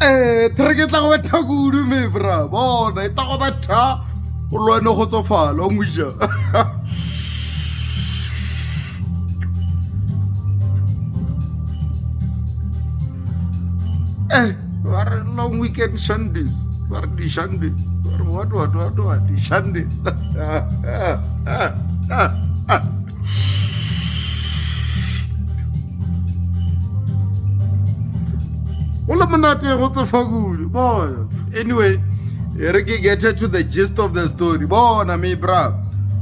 um thereke e tla go betha kudu me bra bona e tla go betha o lwane go tsofala o moja eh ba re long weekend shandes ba re dishandes ba re what what what what dishandes go le monate go tsefa kudu bona anyway e re ke get to the gist of the story bona me bra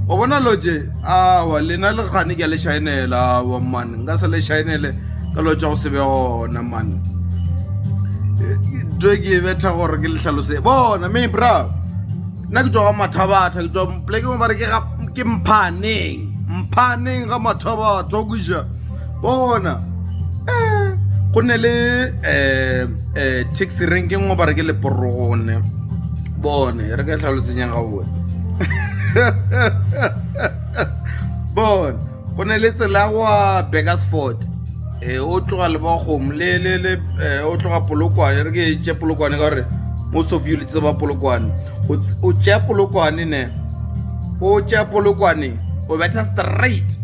o bona loje awa lena le gane ke le shaenela awa mane nka se le shaenele ka lo tsa go se be gona mane to ke betha gore ke le hlalose bona me bra nna ke tšwa mathabatha ke tšwa polekeng ba re ke mphaneng mphaneng ga mathabatha o kuja bona eh, go ne le um um taxi rank ngwe ba re ke leporogone bone re ka tlhalosenyang ga botse bone go ne le tsela ya go a bakersford eh, o tloga le bakgomo le le le eh, o tloga polokwane re ke tše polokwane ka gore most of you le tseba polokwane O ts- o tšea polokwane ne o tšea polokwane o betha straight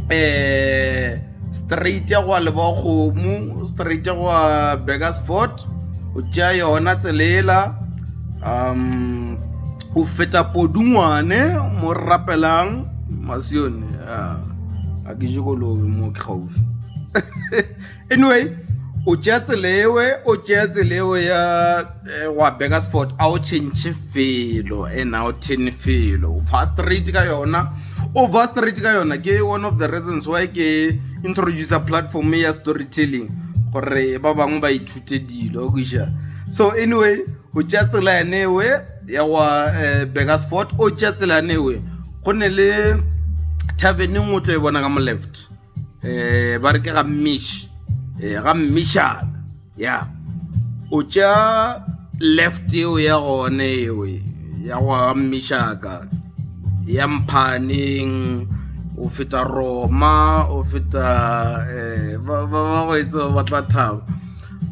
eh straight ya go a leba kgomo straight ya go a bakersford o tšea yona tselela um go feta podungwane mo rapelang masione ah, a ke je kolobe mo ke gaufi anyway o tšea tselewe o tšea tselewe ya eh, wa beka sport a o change felo and a o ten felo fa straight ka yona o va straight ka yona ke one of the reasons why ke introducer platform ya storytelling gore ba bangwe ba ithute dilo o kuša so anyway Go tšea tsela ya Newe ya go wa eh, Burgersfort o tšea tsela ya Newe go ne le thabeneng o tlo e bona ka mo left um ba re ke ga mmish um ga mmishana ya o tšea left eo ya gone ewe ya go ga mmishaka ya mphaneng o feta roma o feta um ba go etse ba tla thaba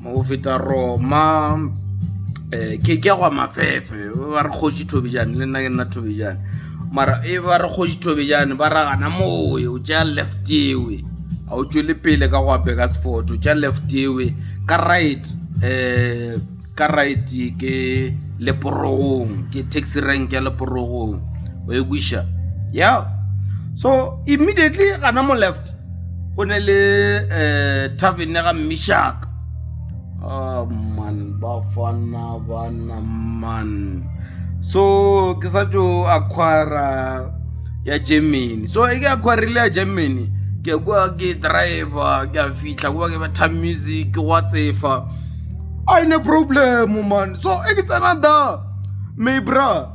mo feta roma um ke ke gwa mafefe ba re kgoši thobejane le nna ke nna thobejane mara e ba re kgoši thobejane ba ragana mowe o tša left ewe ga o tšwele pele ka gwa beka sport o tša left ewe ka right um ka right ke leporogong ke taxi rank ya leporogong o e kwiša ya so immediately gana mo left go ne le um tavene ga mmešaka ah, man bafana bana man so ke sa tso aquara ya germany so e ke aquarile ya germany ke kwa ke driver ke a fitlha kwa ke batha music ke gwa tsefa a ine problem man so e ke tsena da maybra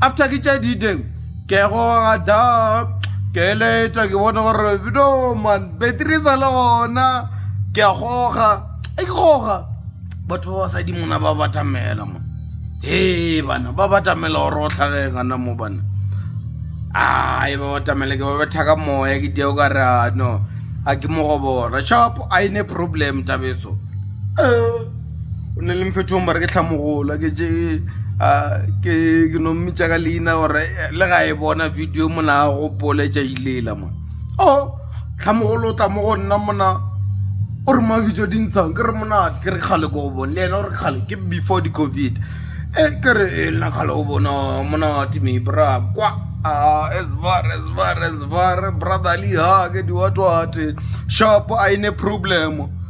After ke tša dideng ke goga da ke eletša ke bone gore no man battery sa le gona ke a goga e ke goga batho ba basadi mona ba batamela mo he bana ba batamela gore o tlhage gana mo bana ai ba batamela ke ba betha ka moya ke deo ka re no a ke mo go bona shop a ine problem tabeso um o ne le mfethong ba re ke tlhamogolo ke je ke ke no mmitša ka leina gore eh, le ga e bona video mona a gopole tšailela mo o oh, tlhamogolo o tla mo go nna mona o re mabitso di ntshang ke re monate ke re kgale ko go bone le ena o re kgale ke before di-covid e ke re e nna kgale go bona monate me bra kwa esbar esbar esbar brotherly ha ke diwatwate shop a ine problemo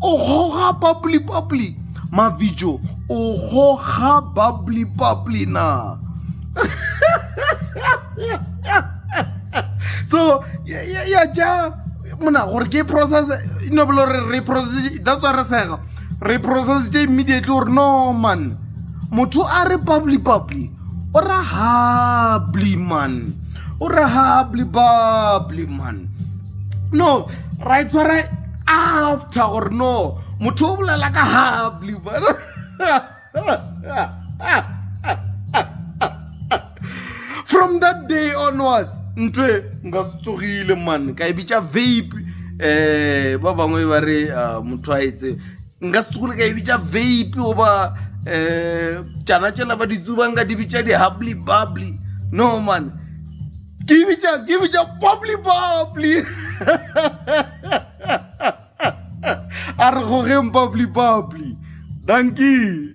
o goga bubbly-bubbly mabijo o goga bubbly-bubbly na so ya ja mona gore ke process e no belo re re process that's why re sega re process tse immediately gore no man motho a re bubbly bubbly o ra hably man o ra hably bubbly man no ra e tshwara after gore no motho o bolela ka hable bona from that day onwards ntwe nka tsogile man ka e bitša vape um ba bangwe ba re ah, motho a etse nka se tsogile ka e bitša vape goba um tšana tšela ba ditsubang ka di bitša di-hubly bubly no man ke e bitša ke e bitša bubly bubly a re gogeng bubbly bubbly dankie